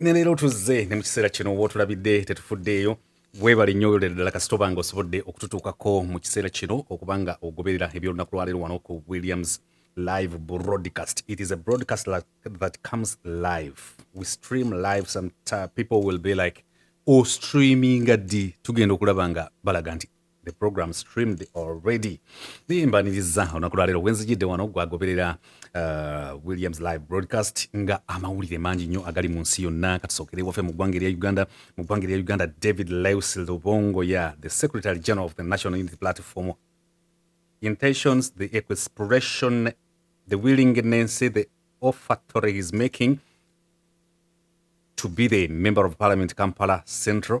ne leero tuzze ne mu kiseera kino oba otulabidde tetufuddeeyo weebale nnyo oyolera ddala kasita oba nga osobodde okututuukako mu kiseera kino okuba nga ogoberera eby'olunaku lwaleero wano ku williams live broadcast it is a broadcast like, that comes live we stream live some people will be like o oh, streaminga ddi tugenda okulaba nga balaga nti the program streamed already naye mbaniriza olunaku lwaleero wenzijidde wano gwagoberera uh, williams live broadcast nga amawulire mangi nnyo agali mu nsi yonna katusookere wafe mu ggwanga erya uganda mu ggwanga erya uganda david leus lubongo ya the secretary general of the national unity platform intentions the expression the willingness the offertory is making to be the member of parliament kampala central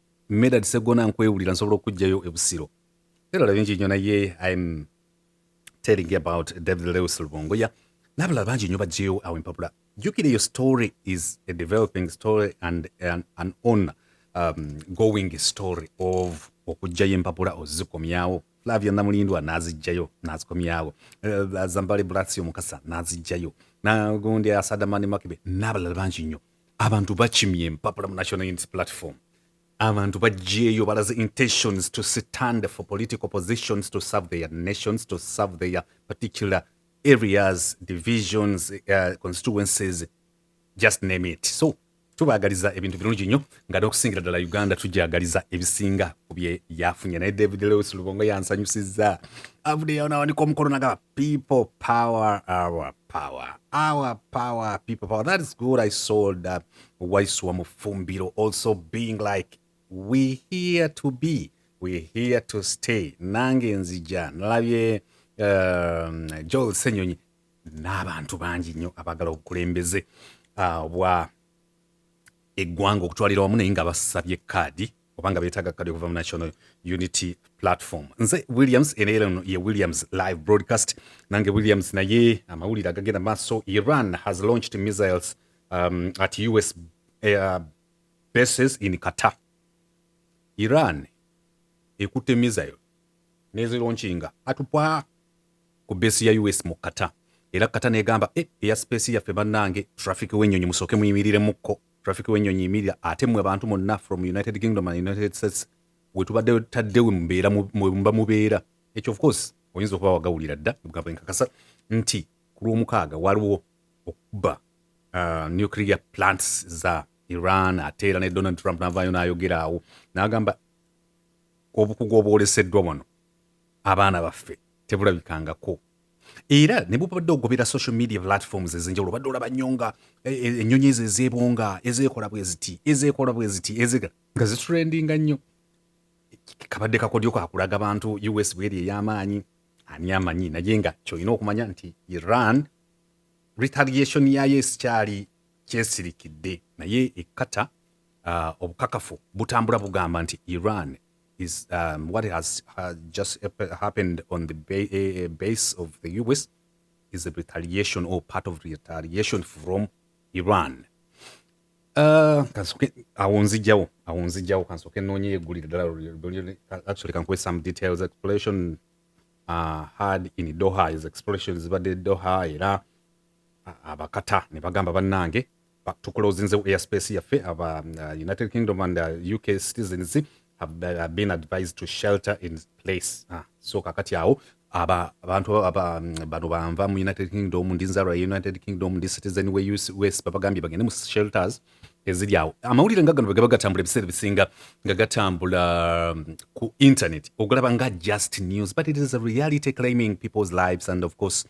Medard Segona nkwewulira nsobola okujjayo e Busiro. Ebirala bingi nnyo naye I'm telling about David Lewis Lubongo ya n'abalala bangi nnyo bajjeyo awo empapula. Jjukira eyo story is a developing story and an, an on um, going story of okujjayo empapula ozikomyawo Flavia Namulindwa n'aziggyayo n'azikomyawo uh, Zambale Blasio Mukasa n'aziggyayo na gundi Asadamani Makibe n'abalala bangi nnyo abantu bakimye empapula mu national unity platform abantu bajjeeyo balaze intentions to stand for political positions to serve their nations to serve their particular areas divisions uh, constituencies just name it so tubagaliza ebintu birungi nnyo nga n'okusingira ddala uganda tujagaliza ebisinga ku bye yafunye naye david lewis lubongo yansanyusiza avudeyawo nawanika omukono nagaba People power, our power, our power, people power. That is good. I saw that Waiswa Mufumbiro also being like, we here to be, we here to stay. Nange nzija, nalabye um, Joel Senyonyi, n'abantu bangi nnyo abagala obukulembeze uh, bwa eggwanga okutwalira wamu naye nga basabye kaadi obanga betaaga kukadde kuva mu national unity platform nze williams eneleno ye williams live broadcast nange williams naye amawulire agagenda maaso iran has launched missiles um, at us uh, bases in qatar iran ekutte missile nezilonchinga atupwa ku base ya us mu qatar era qatar negamba e eh, eya space yaffe bannange traffic wenyonyi musooke muyimiriremukko traffic wenyonyi yimirira ate mwe abantu monna from united kingdom and united states wetubadde tadde wembeera mwemuba mubeera ekyo of course oyinza okuba wagawulira dda mugamba enkakasa nti ku lwomukaaga waliwo okuba uh, nuclear plants za iran ate era ne donald trump navayo nayogera awo nagamba obukugu obwoleseddwa wano abaana baffe tebulabikangako era ne bubadde ogobera social media platforms ezenjawulo badde olaba nnyo nga e, e, ennyonyi ezo ezeebonga ezeekola bwe ziti ezeekola bwe ziti ezega nga zitrendinga nnyo kabadde kakodyo kakulaga bantu us bweri ey'amaanyi ani amanyi naye nga kyolina okumanya nti iran retaliation yayo esikyali kyesirikidde naye ekkata uh, obukakafu butambula bugamba nti iran is um, what has uh, just happened on the eh, eh, base of the US is a retaliation or part of retaliation from Iran. Uh, kansoke awo nzijawo awo nzijawo kansoke noonye yeggulire ddala actually kankuwe some details exploration uh, had in doha is exploration zibadde doha era uh, abakata ne bagamba bannange but to closing the airspace yaffe of uh, uh, united kingdom and uh, uk citizens have uh, been advised to shelter in place ah, so kakati awo abantu um, bano banva mu united kingdom ndi nzalwa ya united kingdom ndi citizen we us babagambye bagende mu shelters eziri awo amawulire nga gano bwegaba gatambula ebiseera ebisinga nga gatambula um, ku internet okulaba nga just news but it is a reality claiming people's lives and of course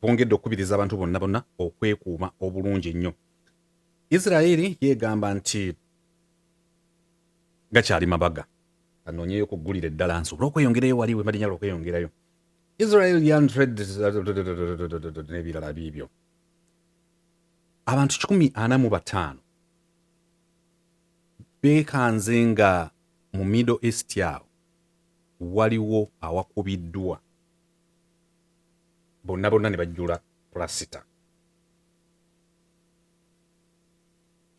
bongedde okukubiriza abantu bonna bonna okwekuuma obulungi ennyo israeri yegamba nti gakyali mabaga anoonyeyo okuggulira eddala nsobole okweyongerayo wali wemalinyala okweyongerayo israel yan n'ebirala biibyo abantu kikumi ana mu bataano beekanze nga mu middle east awo waliwo awakubiddwa bonna bonna ne bajjula pulasita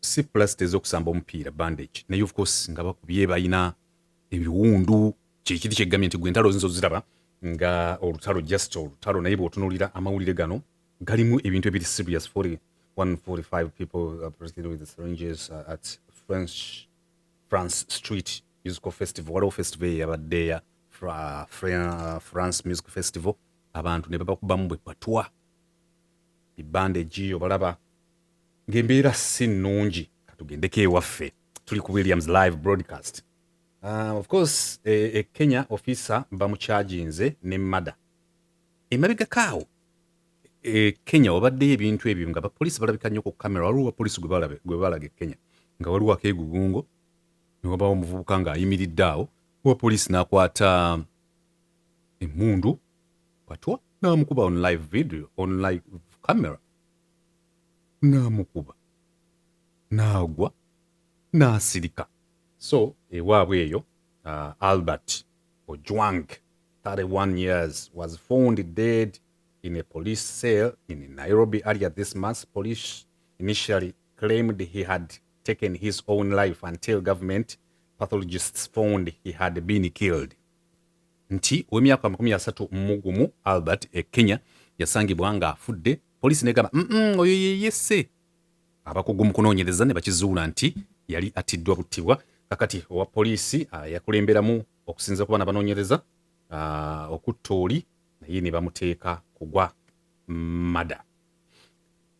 si pulasita ez'okusamba omupiira bandage naye of course nga bakubye balina ebiwundu kyekiri kyeggambye nti gwe ntalo zinza oziraba nga olutalo just olutalo naye bwotunulira amawulire gano galimu ebintu ebiri serious 145 people uh, with the syringes uh, at french france street musical festival waliwo festival eyabaddeya fra, fra, france music festival abantu ne babakubamu bwe patwa bibandeji obalaba ng'embeera si nnungi katugendeko ewaffe tuli ku williams live broadcast uh, of course e, e kenya officer bamukyaginze ne mada emabegakaawo e kenya wabaddeyo ebintu ebyo nga bapoliisi balabika nnyo ku kamera waliwo bapoliisi gwe balaga e kenya nga waliwo akeegugungo ne wabawo omuvubuka ng'ayimiridde awo owa poliisi n'akwata emmundu patwa n'amukuba on live video on live camera n'amukuba n'agwa n'asirika so ewaabwe eyo uh, albert ojwang 31 years was found dead in a police cell in nairobi earlier this month police initially claimed he had taken his own life until government pathologists found he had been killed nti ow'emyaka amakumi asatu mugumu albert e kenya yasangibwa ng'afudde poliisi negamba mm oyo yeyese abakugu mu kunoonyereza ne bakizuula nti yali attiddwa buttibwa kakati owa poliisi ah, yakulemberamu okusinza kuba nabanoonyereza ah, okutta oli naye ne bamuteeka kugwa mada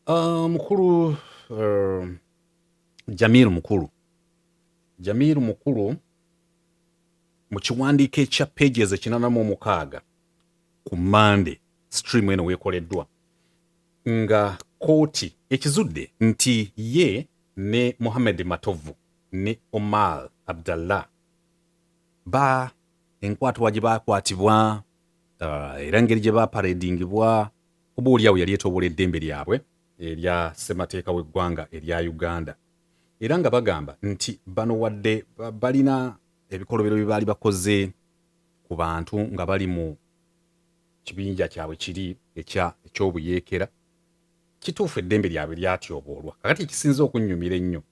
Uh, mukulu uh, Jamir mukulu Jamir mukulu mu kiwandiiko ekya pages ekinana mu omukaaga ku Monday stream eno weekoleddwa nga kooti ekizudde nti ye ne Mohamed Matovu ne Omar Abdallah ba enkwatibwa gye baakwatibwa uh, era engeri gye baaparedingibwa Oba oli awo yali etoobola eddembe lyabwe erya ssemateeka w'eggwanga erya Uganda era nga bagamba nti bano wadde balina ebikolobero bye baali bakoze ku bantu nga bali mu kibinja kyabwe kiri eky'obuyeekera kituufu eddembe lyabwe lyatyoboolwa kakati ekisinza okunnyumira ennyo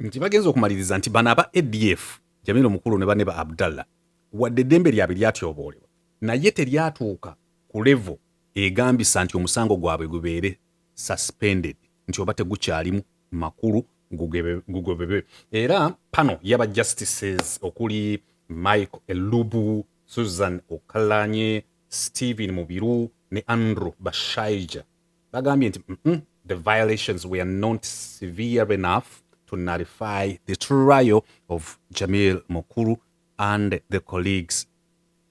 nti bagenza okumaliriza nti bano aba adf jamil omukulu ne banne ba abdallah wadde eddembe lyabwe lyatyoboolebwa naye teryatuuka ku level egambisa nti omusango gwabwe gubeere suspended nti oba tegukyalimu makulu gugobebwe era pano yaba justices okuli Michael Elubu, Susan Okalanye, Stephen Mubiru ne Andrew Bashaija bagambye nti mm -mm, the violations were not severe enough to nullify the trial of Jamil Mukulu and the colleagues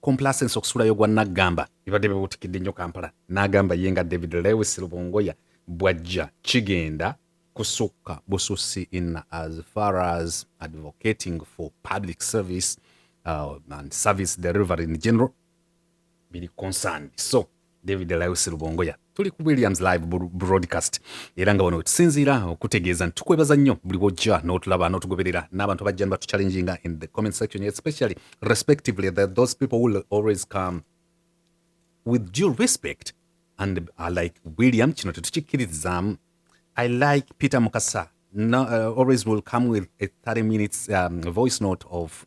complacense okusulayo gwa naggamba bibadde bibuutikidde nnyo kampala n'agamba ye nga david lewis lubongoya bwajja kigenda kusukka bususi in as far as advocating for public service uh, and service delivery in general biri concerned so David Laius Rubongoya tuli ku Williams live broadcast era nga wano wetusinziira okutegeeza nti tukwebaza nnyo buli wojja n'otulaba n'otugoberera n'abantu abajja nibatuchallenginga in the comment section especially respectively that those people will always come with due respect and I like William kino tetukikkiririzaamu I like Peter Mukasa no, uh, always will come with a 30 minutes um, voice note of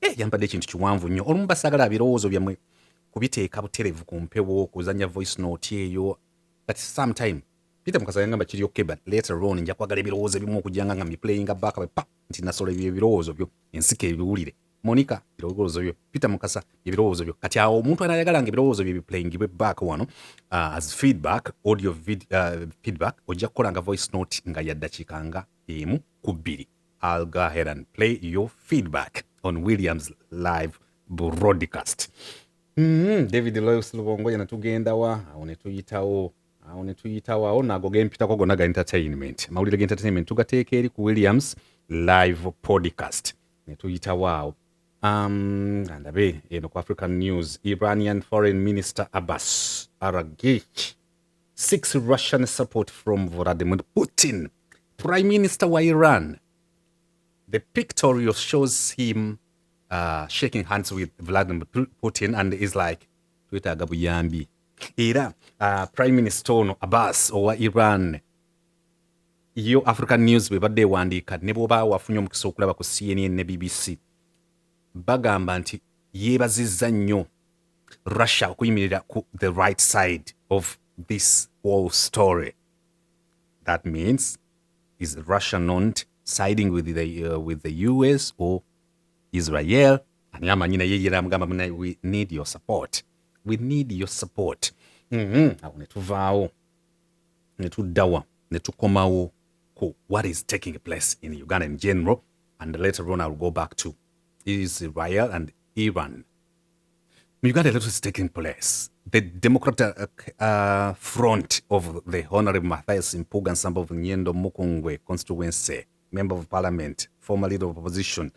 Eh, yampadde ekintu kiwanvu nnyo olumu basagala birowoozo byammwe kubiteeka buterevu ku mpewo kuzanya voice note eyo but sometime peter mukasa yangamba kiri okay but later on nja kwagala ebirowoozo ebimu okujanga nga miplayinga back pa nti nasola ebyo ebirowoozo byo ensika ebiwulire monica ebirowoozo byo peter mukasa ebirowoozo byo kati awo omuntu anayagala nga ebirowoozo bye biplayingibwe back wano uh, as feedback audio vid, uh, feedback ojja kukola nga voice note nga yaddakiika nga emu ku bbiri I'll go ahead and play your feedback on William's live broadcast. Mm -hmm. David Loyce Lubongoya natugenda wa awo ne tuyitawo awo ne tuyitawo awo naago ge mpitako gonna ga entertainment amawulire ga entertainment tugateeka eri ku Williams live podcast ne tuyitawo awo um, andabe eno ku African News Iranian Foreign Minister Abbas Araghchi six Russian support from Vladimir Putin, Prime Minister wa Iran. The pictorial shows him uh, shaking hands with Vladimir Putin and is like, twetaaga buyambi. Era uh, Prime Minister ono Abbas owa Iran yo African News bwe badde ewandiika ne bw'oba wafunye omukisa okulaba ku CNN ne BBC bagamba nti yeebazizza nnyo russia okuyimirira ku the right side of this whole story that means is russia not siding with the, uh, with the us or israel ani amanyi naye yera amugamba munaye we need your support we need your support mm -hmm. awo netuvaawo netuddawa netukomawo ku what is taking place in uganda in general and later on i'll go back to israel and iran In Uganda, a lot is taking place. The Democratic uh, Front of the Honorable Matthias Mpuga and some of Nyendo Mukungwe constituency, Member of Parliament, former Leader of Opposition,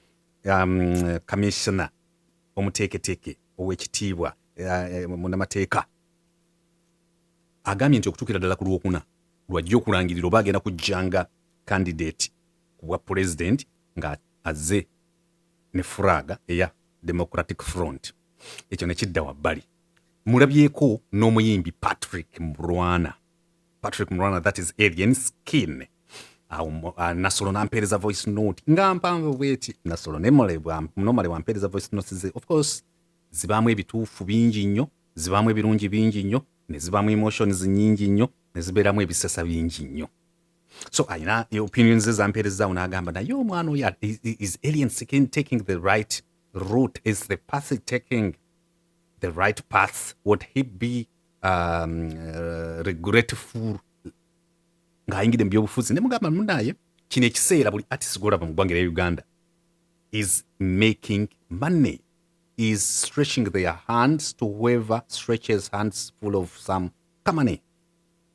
um, Commissioner Omuteketeke owekitiibwa uh, eh, munamateeka agambye nti okutuukira ddala ku lwokuna lwajja okulangirira oba agenda kujjanga kandidate ku bwa pulezidenti nga azze ne furaga eya democratic front ekyo nekidda wabbali mulabyeko n'omuyimbi patrick murwana patrick murwana that is alien skin awo ah, nasolo nampeereza voice note nga mpanvu bweti nasolo nomale wampeereza voice note ze of course zibaamu ebituufu bingi nnyo zibaamu ebirungi bingi nnyo ne zibaamu emotions nyingi nnyo ne zibeeramu ebisesa bingi nnyo so alina opinion ze zampeerezaawo n'agamba naye omwana oyo is alien skin taking the right route is the path taking the right path would he be um, uh, regretful ng'ayingidde mu byobufuzi ne mugamba munaye kino ekiseera buli artist gwolaba mu ggwanga erya uganda is making money is stretching their hands to whoever stretches hands full of some kamane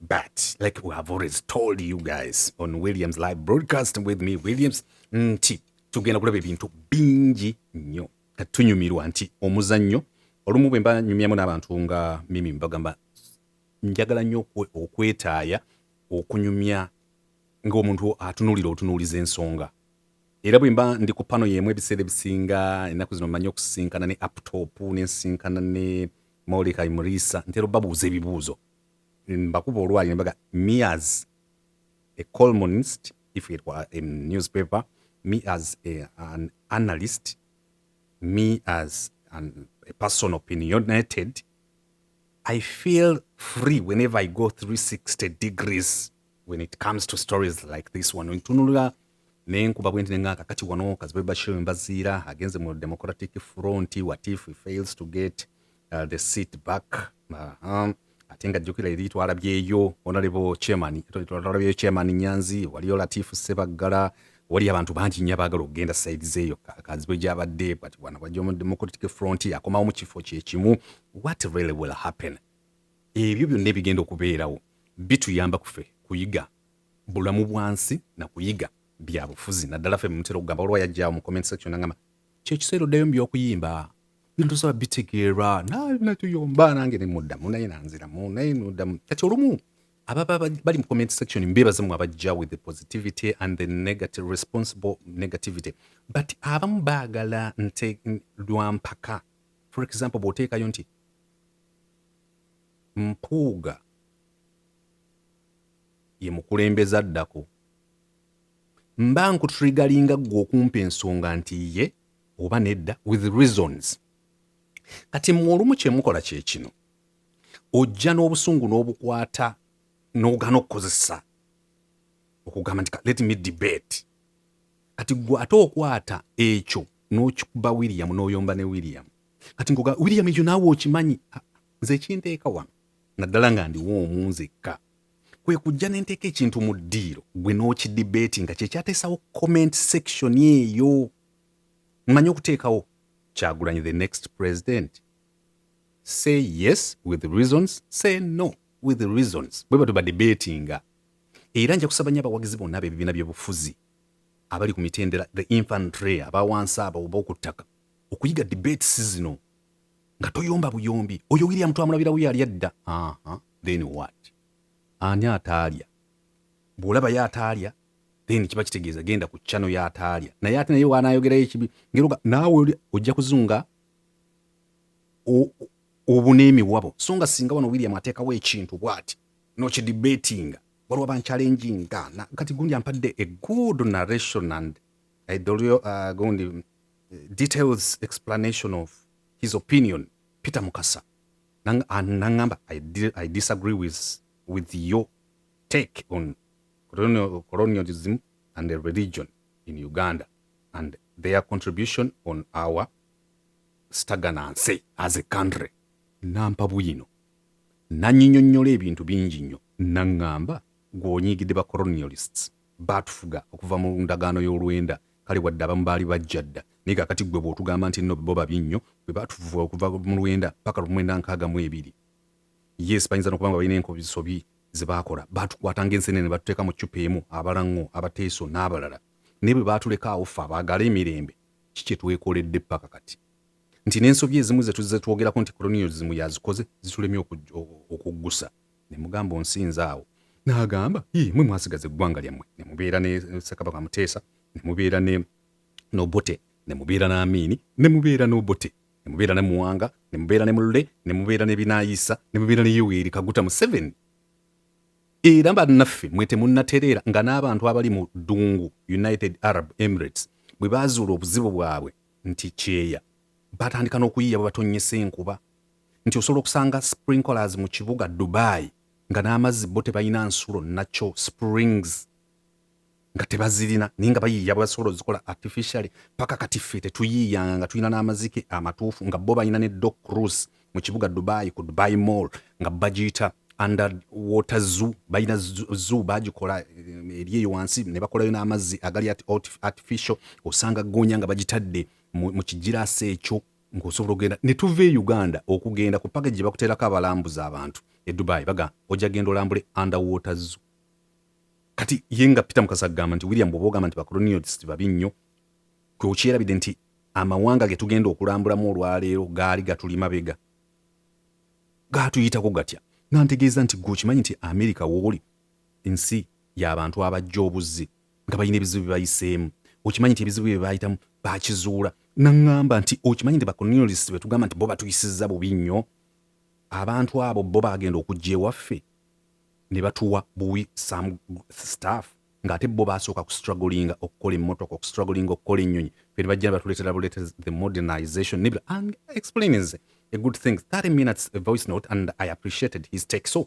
But like we have always told you guys on Williams live broadcast with me Williams nti tugenda kulaba ebintu bingi nnyo kati tunyumirwa nti omuzannyo olumu bwe mba nyumyamu n'abantu nga mimi mbagamba njagala nnyo okwetaaya okunyumya ng'omuntu atunuulira otunuuliza ensonga era bwe mba ndi ku pano y'emu ebiseera ebisinga ennaku zino mmanyi okusisinkana ne aptop ne nsisinkana ne molika imurisa ntera obabuuza ebibuuzo mbakuba olwaali nembaga me as a colmonist if it were a newspaper me as a, an analyst me as an, a person opinionated i feel free whenever i go 360 degrees when it comes to stories like this one ntunulira nenkuba bwenti nenga kakati wano kazibe bashir mbaziira agenze mu democratic front what if he fails to get uh, the seat back uh -huh. ate nga jjukira eri twalabyeyo onalebo chairman twalabyeyo chairman nyanzi waliyo latifu sebaggala wali abantu bangi nnyo abaagala okugenda saidi zeeyo kazibwe gyabadde but wana wajja mu democratic front akomawo mu kifo kyekimu what really will happen ebyo byonna ebigenda okubeerawo bituyamba kufe kuyiga bulamu bwansi na kuyiga byabufuzi naddala fe mutera okugamba olwa yajjawo mu comment section nangamba kyekiseera oddayo mu by'okuyimba bintu saba bitegeerwa natuyomba nange nemuddamu naye nanziramu naye noddamu kati olumu ababa bali mu comment section mbebaza mu abajja with the positivity and the negative responsible negativity but abamu baagala nte lwampaka for example bwoteekayo nti mpuuga ye mukulembeze addako mba nkutrigalinga ggwe okumpa ensonga nti ye oba nedda with reasons kati mmwe olumu kyemukola kyekino ojja n'obusungu n'obukwata n'ogana okukozesa okugamba nti let me debate kati gwe ate okwata ekyo n'okikuba william n'oyomba ne william kati nkuga william ekyo naawe okimanyi nze ekinteeka wano naddala nga ndiwo omu nzekka kwe kujja ne nteeka ekintu mu ddiiro gwe n'okidibeeti nga kye kyateesawo comment section eyo mmanyi okuteekawo kyagulanyi the next president say yes with reasons say no with reasons bwe batyo badebeetinga era nja kusaba nyo abawagizi bonna bebibiina byobufuzi abali ku mitendera the infantry abawansi abo oba okuttaka okuyiga debates zino nga toyomba buyombi oyo william twamulabirawo yali adda then what ani ataalya bwolaba yo ataalya then kiba kitegeeza genda ku chano yo ataalya naye ate naye wanayogerayo ekibi ngeroga naawe ojja kuzunga obuna emiwabo so nga singa wano william ateekawo ekintu bwati nokidibatinga waliwo abankyalenjinga kati gundi ampadde a good narration and uh, gundi details explanation of his opinion peter mukasa ah, nangamba I, i disagree with, with your take on colonial, colonialism and the religion in uganda and their contribution on our stagnancy as a country nampa bwino nanyinyonnyola ebintu bingi nnyo naŋŋamba gw'onyiigidde ba colonialists baatufuga okuva mu ndagaano y'olwenda Kale wadde abamu baali bajja dda, naye kakati ggwe bw'otugamba nti nno bo babi nnyo, bwe baatuvuba okuva mu lwenda paka lu mwenda nkaaga mu ebiri. Yes, bayinza n'okuba nga balina enkobisobi ze baakola. Baatukwata ng'ensenene ne batuteeka mu ccupa emu, abalaŋŋo, abateeso n'abalala. Naye bwe baatuleka awo ffe abaagala emirembe, ki kye twekoledde paka kati? Nti n'ensobi ezimu ze tuzze twogerako nti koloniyozimu yazikoze zitulemye okuggusa. Ne mugamba onsinza awo. N'agamba, Yii, mmwe mwasigaza eggwanga lyammwe, ne mubeera ne Ssekabaka Muteesa, ne mubeera ne n'Obote, ne mubeera n'Amiini, ne mubeera n'Obote, ne mubeera ne Muwanga, ne mubeera ne Mulle, ne mubeera ne Binaayisa, ne mubeera ne Yoweri Kaguta Museveni. Era bannaffe mwe temunnatereera nga n'abantu abali mu ddungu United Arab Emirates bwe baazuula obuzibu bwabwe nti kyeya, batandika n'okuyiiya bwe batonnyesa enkuba. nti osobola okusanga sprinklers mu kibuga Dubai nga n'amazzi bo tebalina nsulo nakyo springs nga tebazirina naye nga bayiiya bwebasobola ozikola artificially paka kati ffe tetuyiiyanga nga tulina n'amazike amatuufu nga bo balina ne doc cruise mu kibuga Dubai ku Dubai mall nga bagiyita under water zoo balina zoo bagikola eh, eri eyo wansi ne bakolayo n'amazzi agali artificial osanga goonya nga bagitadde mu kigiraasi ekyo nga osobola okugenda ne tuva e uganda okugenda ku page gye bakuteerako abalambuza abantu e dubai baga ojja genda olambule underwater zoo kati ye nga peter mukasa agamba nti william bwoba ogamba nti bacolonialist babi nnyo gwe okyerabidde nti amawanga ge tugenda okulambulamu olwaleero gaali gatuli mabega gaatuyitako gatya nga ntegeeza nti gwe okimanyi nti amerika wooli ensi y'abantu abajja obuzzi nga balina ebizibu bye bayiseemu okimanyi nti ebizibu bye baayitamu baakizuula naŋŋamba nti okimanyi nti bakoniolis be tugamba nti bo batuyisiza bubi nnyo abantu abo bo baagenda okujja ewaffe ne batuwa buwi some staff ng'ate bo baasooka ku strugglinga okukola emmotoka oku strugglinga okukola ennyonyi fe ne bajja ne batuleetera buleete the modernization nebira explainings a good thing 30 minutes a voice note and i appreciated his take so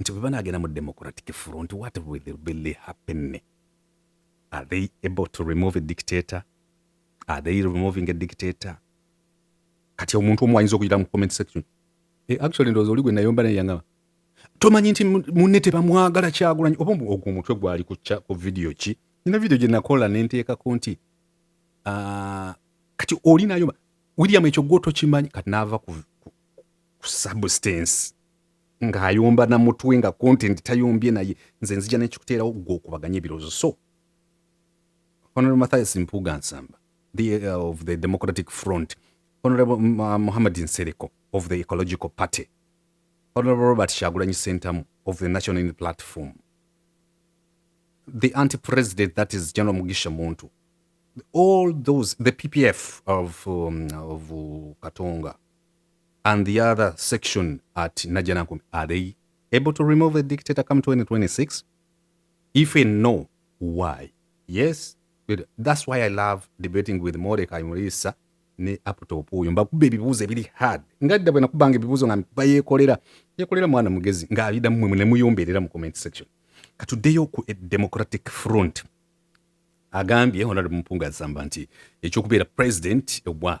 nti bwe banaagenda mu democratic front what will really happen are they able to remove a dictator are they removing a dictator kati omuntu omu ayinza okuyira mu comment section e, actually ndowooza oli gwe nayomba naye yangaba tomanyi nti munne tebamwagala kyagulanyi oba ogwo omutwe gwali ku vidiyo ki nina vidiyo gye nakola ne nteekako nti ah, kati oli nayomba william ekyo gwotokimanyi kati naava ku substance ng'ayomba na mutwe nga content tayombye naye nze nzija nekikuteerawo gwe okubaganya ebirowoozo so honorable mathias mpuuga nsamba the, uh, of the democratic front honorable uh, muhammad nsereko of the ecological party honorable robert shagulanyi sentamu of the national unity platform the anti president that is general mugisha muntu all those the ppf of, um, of uh, katonga and the other section at Najanankumi, are they able to remove a dictator come 2026? If we know why, yes, that's why I love debating with Mordecai Murisa ne aptop oyo mbakuba ebibuuzo ebiri hard nga dda bwe nakubanga ebibuuzo nga mba yeekolera yeekolera mwana mugezi ng'abida mmwe ne muyombeerera mu comment section katuddeyo ku e democratic front agambye honorable mpunga azamba nti ekyokubeera president obwa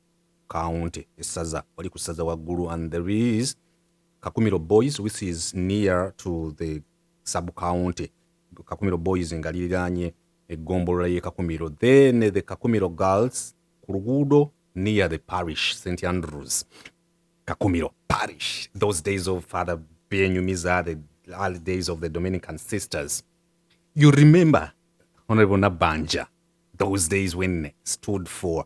county essaza wali ku ssaza waggulu and there is kakumiro boys which is near to the sub county kakumiro boys nga liriraanye eggombolola y'e kakumiro then the kakumiro girls ku luguudo near the parish st andrews kakumiro parish those days of father benyumiza the early days of the dominican sisters you remember honorable nabanja those days when stood for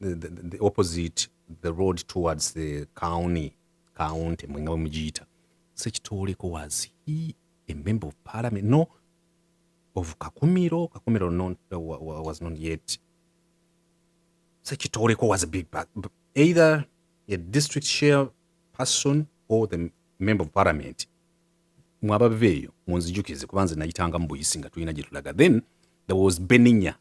the, the, the opposite the road towards the county county mwenga bamugiyita sekitooleko was he a member of parliament no of kakumiro kakumiro non, uh, was not yet sekitooleko was a big bag either a district share person or the member of parliament mwabaveeyo munzijukize kuba nze nayitanga mu buyisi nga tulina gyetulaga then there was beninya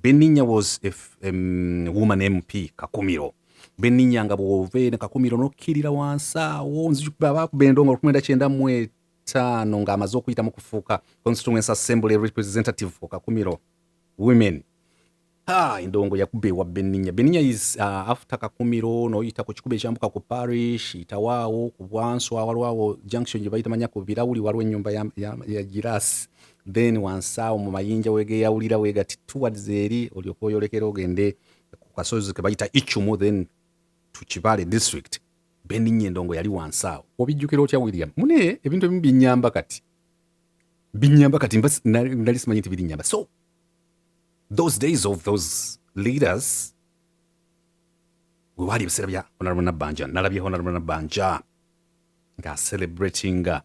Beninya was a um, woman MP Kakumiro Beninya nga bw'ova eno Kakumiro n'okkirira wansi awo nzibaakuba endongo olukumenda kyenda mu etaano ng'amaze okuyitamu kufuuka constituency assembly representative for Kakumiro women ha endongo yakuba ewa Beninya Beninya is uh, after Kakumiro n'oyita ku kikuba ekyambuka ku parish itawaawo ku bwanso awalwawo junction gye bayita manya ku birawuli waliwo ennyumba ya, ya, ya girasi then wansi awo mu mayinja wegeyawulira wegati towards eri olyoka oyolekera ogende ku kasozi ke bayita ichumu then to kibale district beninye endongo yali wansi awo obijjukira otya william mune ebintu ebimu binyamba kati binyamba kati nali simanyi nti birinyamba so those days of those leaders wewaali ebiseera bya honorable nabanja nalabye honorable nabanja nga celebratinga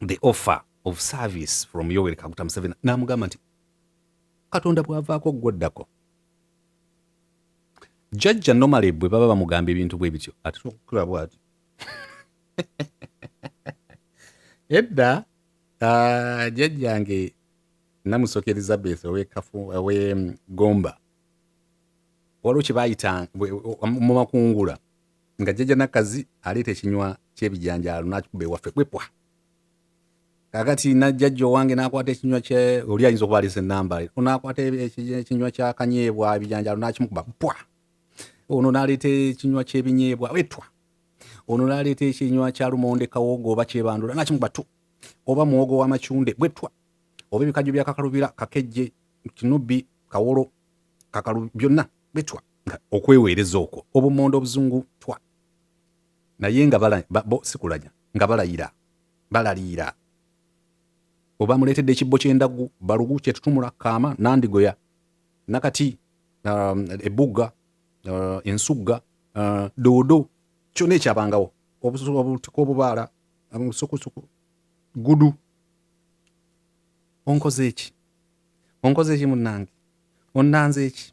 the offer of service from yoweri kaguta museveni namugamba nti katonda bwavaako gwoddako jajja nomale bwe baba bamugamba ebintu bwe bityo atera okukula bwati edda ah, jajjange namusoka elizabeth owekafu owe gomba waliwo kyebayita mu makungula nga jjaja nakazi aleeta ekinywa kyebijanjaalo nakikuba ewaffe kwepwa kakati najjajja owange nakwata ekinywa kye oli ayinza okuba alese enamba onakwata ekinywa kyakanyeebwa ebijanjaalo nakimukuba pwa ono naleeta ekinywa kyebinyeebwa wetwa ono naleeta ekinywa kya lumonde kawogo oba kyebandula nakimukuba tu oba muwogo wamacunde bwetwa oba ebikajjo byakakalubira kakejje kinubi kawolo kakalu byonna bwetwa okweweereza okwo obumonde obuzungu twa naye nga bo sikulanya nga balayira balaliira obamuleetedde ekibbo ky'endaggu balugu kyetutumula kaama nandigoya nakati um, ebugga uh, ensugga uh, doodo kyona ekyabangawo obutiko obubaala obusukusuku um, gudu onkoze eki onkoze eki munange onanze eki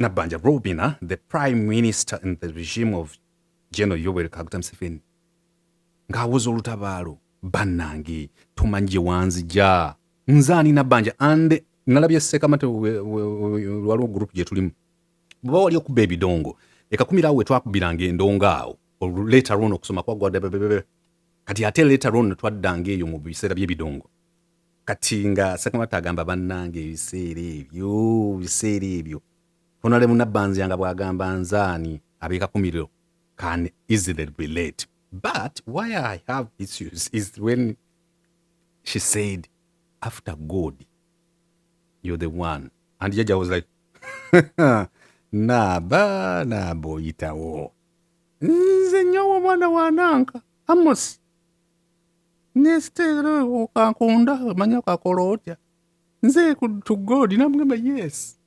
Nabanja Robina, the prime minister in the regime of General Yoweri Kaguta Museveni, ng'awoza olutabaalo bannange tumanyi gye wanzija nze ani Nabanja and nalabye Sekamate waliwo gurupu gye tulimu bwe wali okuba ebidongo ekakumira awo wetwakubiranga endongo awo later on okusoma kwagwa kati ate later on twaddanga eyo mu biseera by'ebidongo kati nga sekamata agamba bannanga ebiseera ebyo biseera ebyo honale munabbanzya nga bw'agamba nzaani abeekakumiro can easily relate but why i have issues is when she said after god you're the one and jaja was like naaba naaba oyitawo nze nyowo omwana wananka amosi nesitera okankunda omanya okakola otya nze to god namugamba yes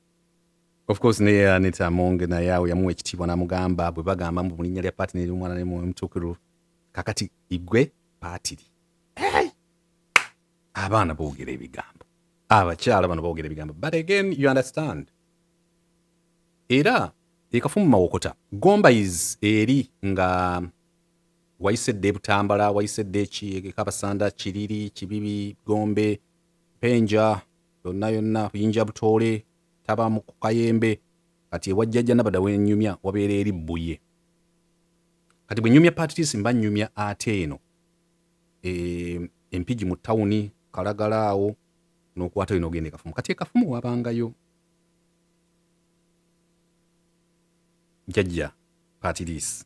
of course naye anita monge naye awo yamuwa ekitiibwa namugamba bwe bagamba mu linnya lya paati neryomwana ne mwoyo mutuukiru kakati igwe paatiri hey! abaana boogera ebigambo abakyala bano boogera ebigambo but again you understand era ekafumu mawokota gomba is eri nga wayise dda e Butambala, wayise dda e Kabasanda, Kiriri, Kibibi, Gombe, Penja, yonna yonna, Buyinja Butoole, taba mu Kayembe, kati ewa Jjajja Nabada we nnyumya wabeera eri Bbuye. Kati bwe nnyumya Patrice mba nnyumya ate eno e, Empigi mu tawuni, Kalagala awo n'okwata olina ogenda e Kafumu. Kati e Kafumu wabangayo Jjajja Patrice.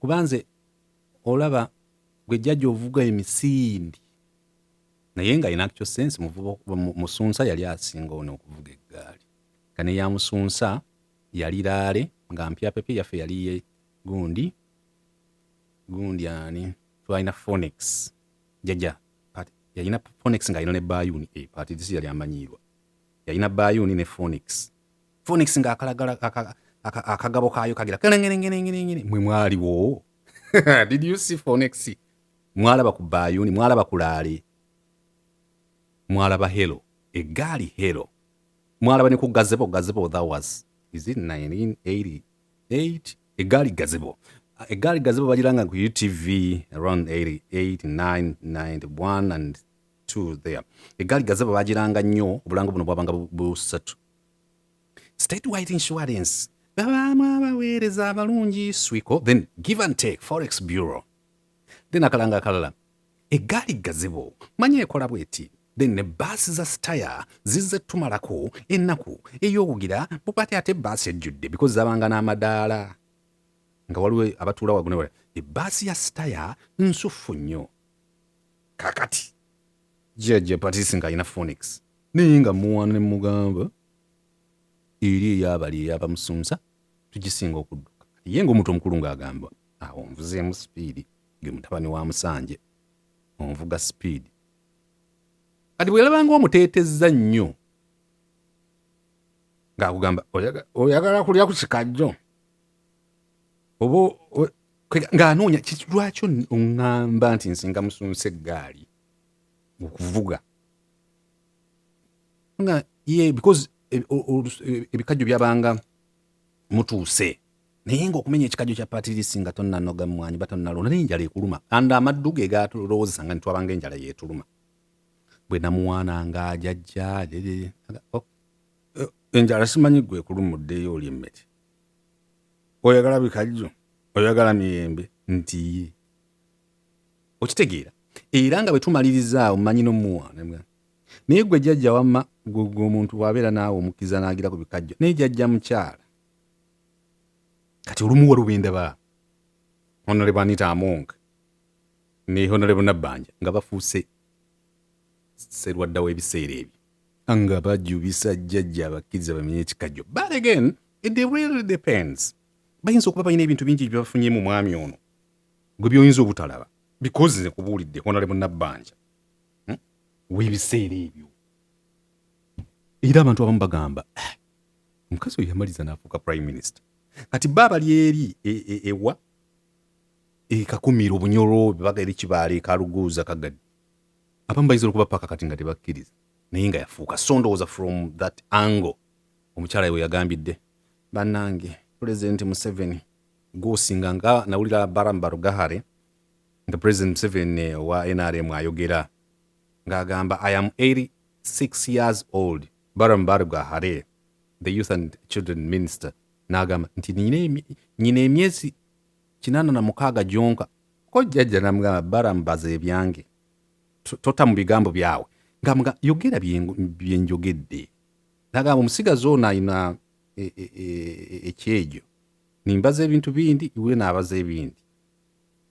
kuba nze olaba gwe jjaja ovuga emisindi naye nga in actual sense musunsa yali asinga ono okuvuga eggaali nga ne ya musunsa yali laale nga mpya pepe yaffe yali ye gundi gundi ani twalina phonex jjaja yalina phonex nga alina ne bayuni e eh, patidisi yali amanyiirwa yalina bayuni ne phonex Phoenix nga akalagala akagabo kaayo kagira kelengerengerengerengere mwe mwaliwo did you see Phoenix mwalaba ku bayuni mwalaba ku laale mwalaba helo egaali helo mwalaba ne ku gazebo gazebo that was is it 1988 egaali gazebo egaali gazebo bagiranga ku utv around 88 9 91 and to there egaali gazebo bagiranga nnyo obulango buno bwabanga busatu state wide insurance babaamu abaweereza abalungi swiko then give and take forex bureau then akalanga akalala egaali gazebo manya ekola bweti then ne baasi za sitaya zizze tumalako ennaku ey'okugira bupati ate baasi ejjudde because zabanga n'amadaala nga waliwo abatuula wagunewala ebaasi ya sitaya nsuffu nnyo kakati jajja patisi nga alina phonics naye nga muwana nemugamba eri eyabali eyabamusunza tugisinga okudduka ye nga omuntu omukulu ngaagamba awo nvuzeemu sipiidi ge mutabani wa musanje onvuga sipiidi kati bweyalabanga omuteetezza nnyo ngaakugamba oyagala kulya ku kikajjo oba ng'anoonya lwaki oŋŋamba nti nsinga musunsa eggaali okuvuga nga ye because e, e, ebikajjo byabanga mutuuse naye ngaokumenya ekikajjo kya patirisi nga tonnanoga mwanyi ba tonnalonda naye enjala ekuluma and amaddu ge gatulowozesa nga nitwabanga enjala yetuluma bwe namuwaana nga ajajja oh, eh, enjala simanyi gwekulumuddeyo oli emmere oyagala bikajjo oyagala miyembe nti ye okitegeera era nga bwe tumalirizaawo manyi nomuwa naye gwe jajja wamma gwegwe omuntu bwabeera naawe omukkiriza naagira ku bikajjo naye jajja mukyala kati olumu waliwo bendaba honorable anita among ne honorable nabbanja nga bafuuse serwadda w'ebiseera ebyo nga bajubisa jjajja abakkiriza bamenye ekikajjo but again it really depends bayinza okuba balina ebintu bingi byebafunye mu mwami ono gwe byoyinza obutalaba because nze kubuulidde honale munabbanja hmm? webiseera ebyo era abantu abamu bagamba eh, omukazi oyo yamaliza naafuuka prime minister kati ba bali eri e, e, ewa ekakumira obunyolo bebaga eri kibaala ekaluguuza kagadi abamu bayinza okuba paka kati nga tebakkiriza naye nga yafuuka so ndowooza from that angle omukyala yewe yagambidde banange pulezidenti museveni gwosinga nga nawulira baram barugahare nga pulezidenti museveni eh, wa nrm ayogera ng'agamba i am 86 years old baram barugahare the youth and children minister n'agamba nti nyina emyezi kinaana na mukaaga gyonka ko jjajja namugamba baram baza ebyange tota mu bigambo byawe nga mga yogera byenjogedde nagamba omusigazi ono alina e, e, e, ekyejo nimbaza ebintu bindi iwe nabaza ebindi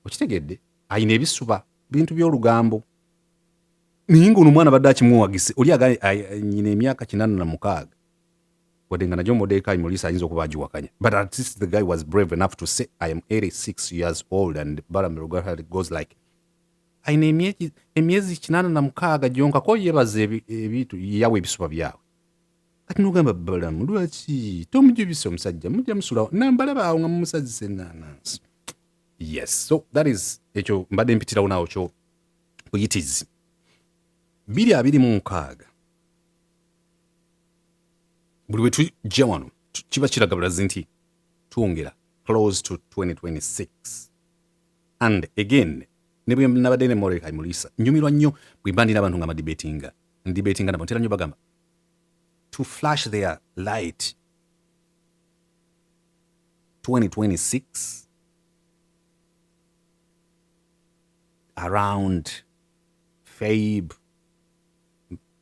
okitegedde alina ebisuba bintu byolugambo naye ngaono omwana badde akimuwagise oli nyina emyaka kinana na mukaaga wadde nga nagyo modekayi mulisa ayinza okuba agiwakanya but at least the guy was brave enough to say i am 86 years old and baramilugahari goes like aina emyezi kinana na mukaaga gyonka ko yebaza ebintu yawe ebisuba byawe kati nogamba balamu lwaki tomujubisa omusajja mujja musulawo nambalabaawo nga mumusazisa enanansi yes so that is ekyo mbadde mpitirawo nawo kyo kuyitizi biri abiri mu nkaaga buli bwe tujja wano kiba kiraga bulazi nti twongera close to 2026 and again ne bwe nabadde ne morekai mulisa nyumirwa nnyo bwe mba ndina abantu nga madibetinga ndibetinga nabo ntera nnyo bagamba to flash their light 2026 around fabe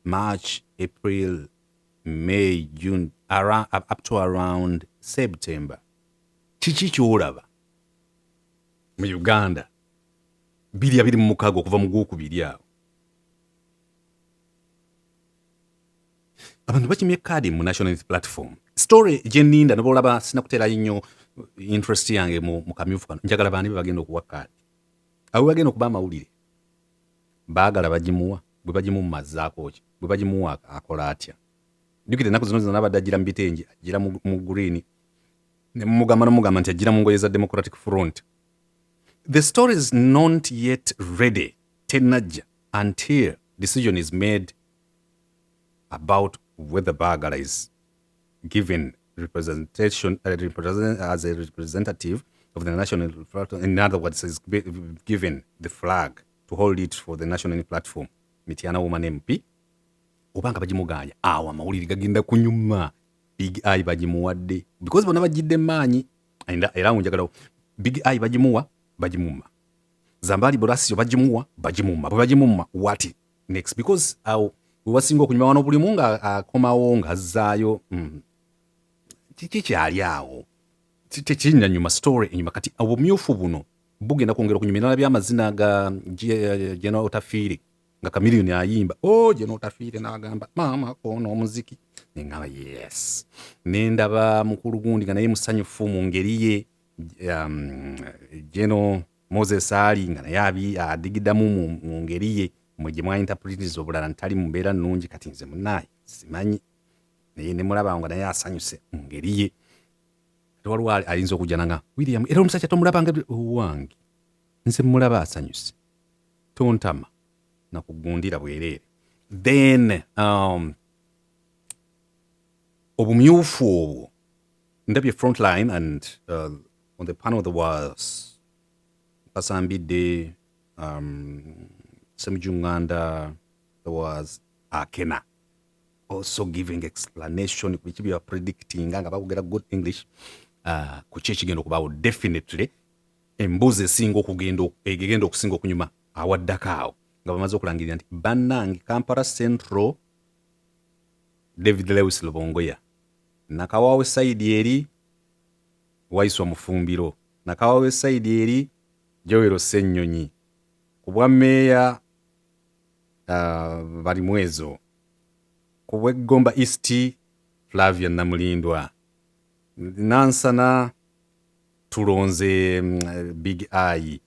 March, April, May, June, around, up to around September. Kiki kyolaba mu Uganda biri abiri mu mukaaga okuva mu gwokubiri awo abantu bakimye kaadi mu national unity platform story gyeninda noba olaba sinakuteerayo nnyo interest yange mu kamyufu kano njagala baani be bagenda okuwa kaadi awe bagenda okuba amawulire Baagala bagimuwa, bwe bagimumma azzaako ki? Bwe bagimuwa akola atya? Jjukira ennaku zino zino abadde ajjira mu bitengi, ajjira mu green, ne mumugamba nomugamba nti ajjira mu ngoye za Democratic Front. The story is not yet ready tenajja until decision is made about whether Baagala is given representation uh, represent, as a representative of the national platform. In other words, is given the flag to hold it for the national platform. Mityana woman MP oba nga bagimuganya awo amawulire gagenda kunyuma big eye bagimuwadde because bona bajidde maanyi era awo njagalawo big eye bagimuwa bagimuma zambaali burasio bagimuwa bagimuma bwe bagimuma wati next because awo wewasinga okunyuma wano bulimu nga akomawo nga azzaayo mm. kiki kyali awo tekinya nyuma story enyuma kati obumyufu buno bugenda kwongera okunyuma enala byamazina ga jena otafiire nga kamiliyoni ayimba o oh, jena otafiire nagamba maama koona omuziki nengaba yes nendaba mukulu gundi nga naye musanyufu mu ngeri ye um, jeno um, Moses Ali nga naye abi adigidamu mu mu ngeri ye mwe gye mwa interpretiza obulala nti tali mu mbeera nnungi kati nze munnaaye simanyi naye ne mulaba nga naye asanyuse mu ngeri ye ate waliwo ali- ayinza okujjana nga William era omusajja tomulaba nga owange nze mulaba asanyuse tontama nakugundira bwereere then um, obumyufu obwo ndabye frontline and uh, on the panel there was kasambidde um, semujunganda there was akena also giving explanation ku biki byewa predicting nga bakugera good english uh, ku ki ekigenda okubaawo definitely embuzi esinga okugenda egenda okusinga okunyuma awaddako awo nga bamaze okulangirira nti bannange kampala central david lewis lubongoya Nakawawe side eri Waiswa Mufumbiro, Nakawawe side eri Joel Ssenyonyi ku bwa Meeya uh, Balimwezo, ku bwe Gomba East Flavia Namulindwa, Nansana tulonze mm, Big Eye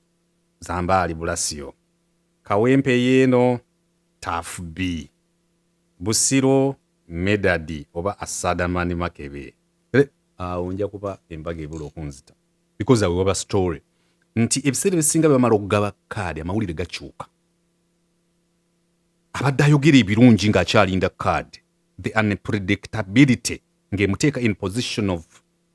Zambaali Bulasio, Kawempe yeeno Tafu B, Busiro Medadi oba Asada man makebe. Re, awo nja kuba embaga ebula okunzita because I will have a story nti ebiseera ebisinga bebamala okugaba kaadi amawulire gakyuka abadde ayogera ebirungi ng'akyalinda kaadi the unpredictability ng'emuteeka in position of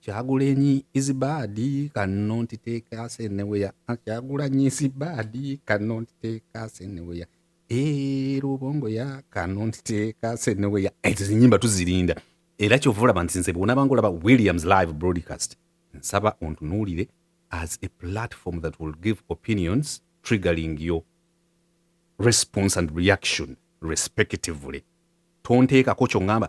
Kyagulanyi is bad cannot take us anywhere. Ah, Kyagulanyi is bad cannot take us anywhere. Eh, Lubongo ya cannot take us anywhere. Ezo zinyimba tuzirinda. Era kyova olaba nti nze bwona banga olaba Williams live broadcast nsaba ontunuulire as a platform that will give opinions triggering your response and reaction respectively. Tonteekako kyo ngamba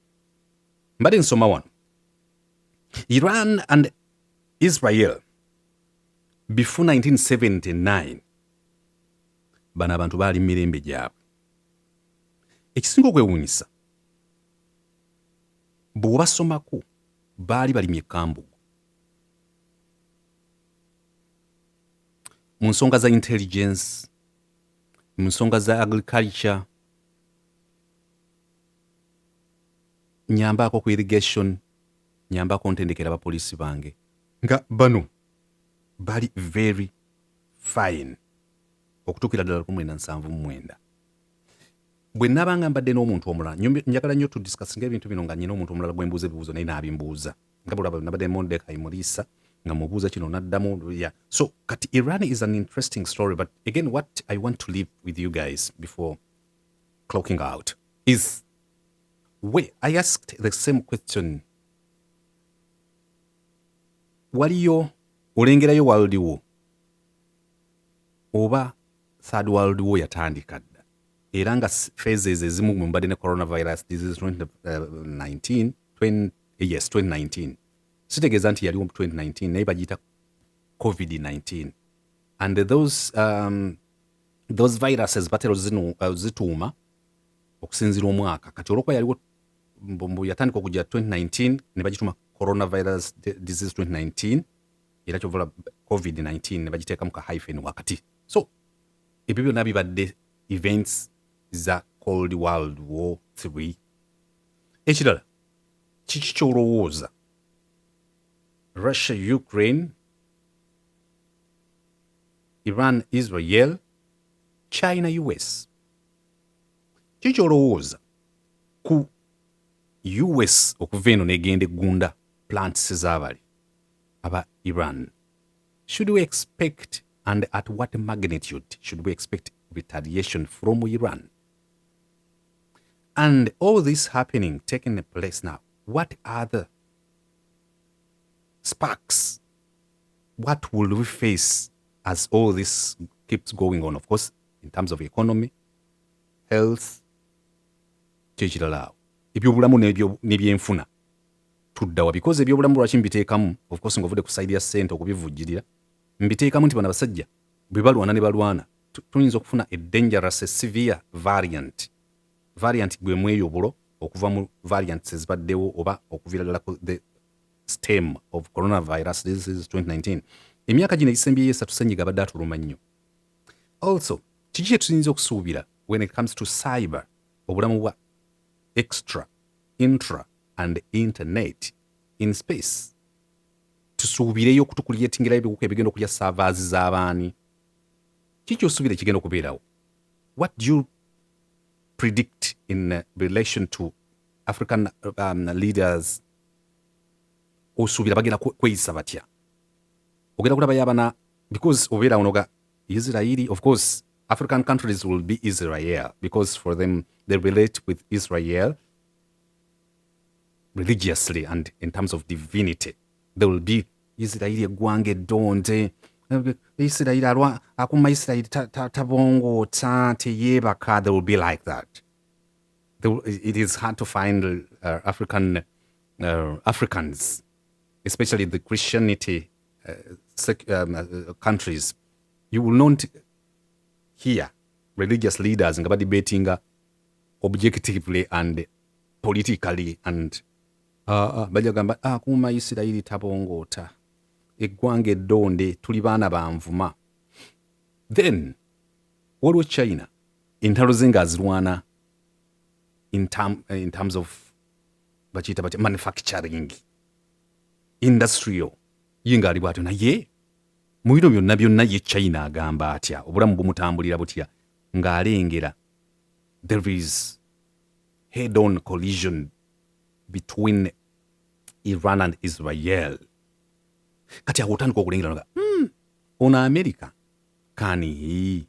mbadde nsoma wano iran and israel before 1979 bano abantu baali mu mirembe gyabwe ekisinga okwewuunyisa bw'obasomako baali balimye ekambugu mu nsonga za intelligence mu nsonga za agriculture nyambaako ku irrigation nyambako ntendekera abapoliisi bange nga bano bali very fine okutuukira ddala lukumu ena nsanvu mu mwenda bwe nabanga mbadde n'omuntu omulala njagala nnyo tudisikasinga ebintu bino nga nyina omuntu omulala gwe mbuuza ebibuuzo naye naabimbuuza nga bulaba nabadde mondekayi muliisa nga mubuuza kino naddamu ya so kati iran is an interesting story but again what i want to live with you guys before clocking out is we i asked the same question waliyo olengerayo world war oba third world war yatandika dda era nga phases ezimu mumbadde ne coronavirus disease 2019 uh, yes 2019 sitegeeza nti yaliwo mu 2019 naye bagiyita covid-19 and those um, those viruses batera ozituuma uh, okusinzira omwaka kati olwokuba yaliwo mbu yatandika okujja 2019 ne bagituma coronavirus disease 2019 era kyovola covid-19 ne bagiteekamu ka hyphen wakati so ebyo byonna bibadde events za cold world war 3 ekirala kiki kyolowooza russia ukraine Iran Israel China US kiki olowooza ku US okuva eno negenda eggunda plants zabali aba Iran should we expect and at what magnitude should we expect retaliation from Iran and all this happening taking place now what other sparks what will we face as all this keeps going on of course in terms of economy health kyekirala awo ebyobulamu nebyenfuna tuddawa because ebyobulamu lwaki mbiteekamu of course nga ovudde ku side ya sente okubivujjirira mbiteekamu nti bano abasajja bwe balwana ne balwana tuyinza okufuna a dangerous a severe variant variant gwe mweyo obulo okuva mu variants ezibaddewo oba okuviira ddala ku the stem of coronavirus disease 2019 emyaka gino egisembyeyo esatu senyiga abadde atuluma nnyo also kiki kyetuyinza okusuubira when it comes to cyber obulamu bwa extra intra and internet in space tusuubireyo okutukuliyetingira ebiwuka ebigenda okulya savaazi z'abaani kiki osuubira ekigenda okubeerawo what do you predict in uh, relation to african um, leaders osuubira bagenda kweyisa batya ogenda kulaba yabana because obeera onoga israeli of course african countries will be israel because for them they relate with israel religiously and in terms of divinity they will be israeli eggwanga eddonde israeli alwa akuma israeli tabongoota teyeebaka they will be like that it is hard to find uh, African uh, Africans, especially the Christianity uh, sec- um, uh, countries. You will not hear religious leaders nga debating uh, objectively and politically and uh, uh, bajja gamba ah, kuuma isirayiri tabongoota eggwanga eddonde tuli baana banvuma then waliwo china entalo ze nga azirwana in, term, eh, in terms of bakiyita batya manufacturing industrial ye ngaali bwatyo naye mu bino byonna byonna ye china agamba atya obulamu bumutambulira butya ng'alengera there is head on collision between iran and israel kati awo otandika okulengera nga mm, ono america kani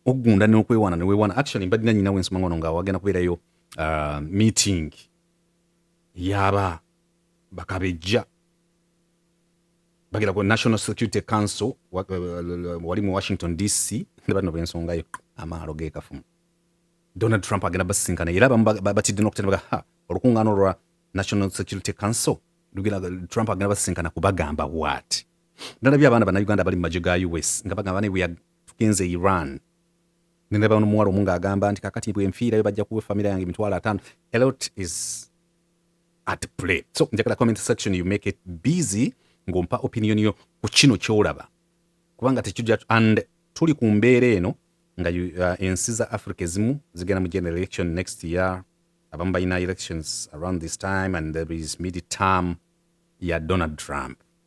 ogunda nokwewana newewana actually mbadina nyina wensoma ngono nga wagenda kubeerayo uh, meeting yaba bakabejja bagenda ku national security council uh, uh, wali mu washington dc nebano bensongayo amaalo gekafumu donald trump agenda basisinkana era abamu batidde nokutenda baga ha olukungaano lwa national security council trump agenda basisinkana kubagamba waati ndalabye abaana bannayuganda abali mu magye ga us nga bagamba ne bweya tugenze e iran nendaba nomuwala omu ng'agamba nti kakati bwenfiirayo bajja kuwa efamira yange emitwalo ataano elot is at play so njagala comment section you make it busy ng'ompa opinion yo ku kino kyolaba kubanga tekijja and tuli ku mbeera eno nga uh, ensi za africa ezimu zigenda mu general election next year abamu balina elections around this time and there is mid term ya donald trump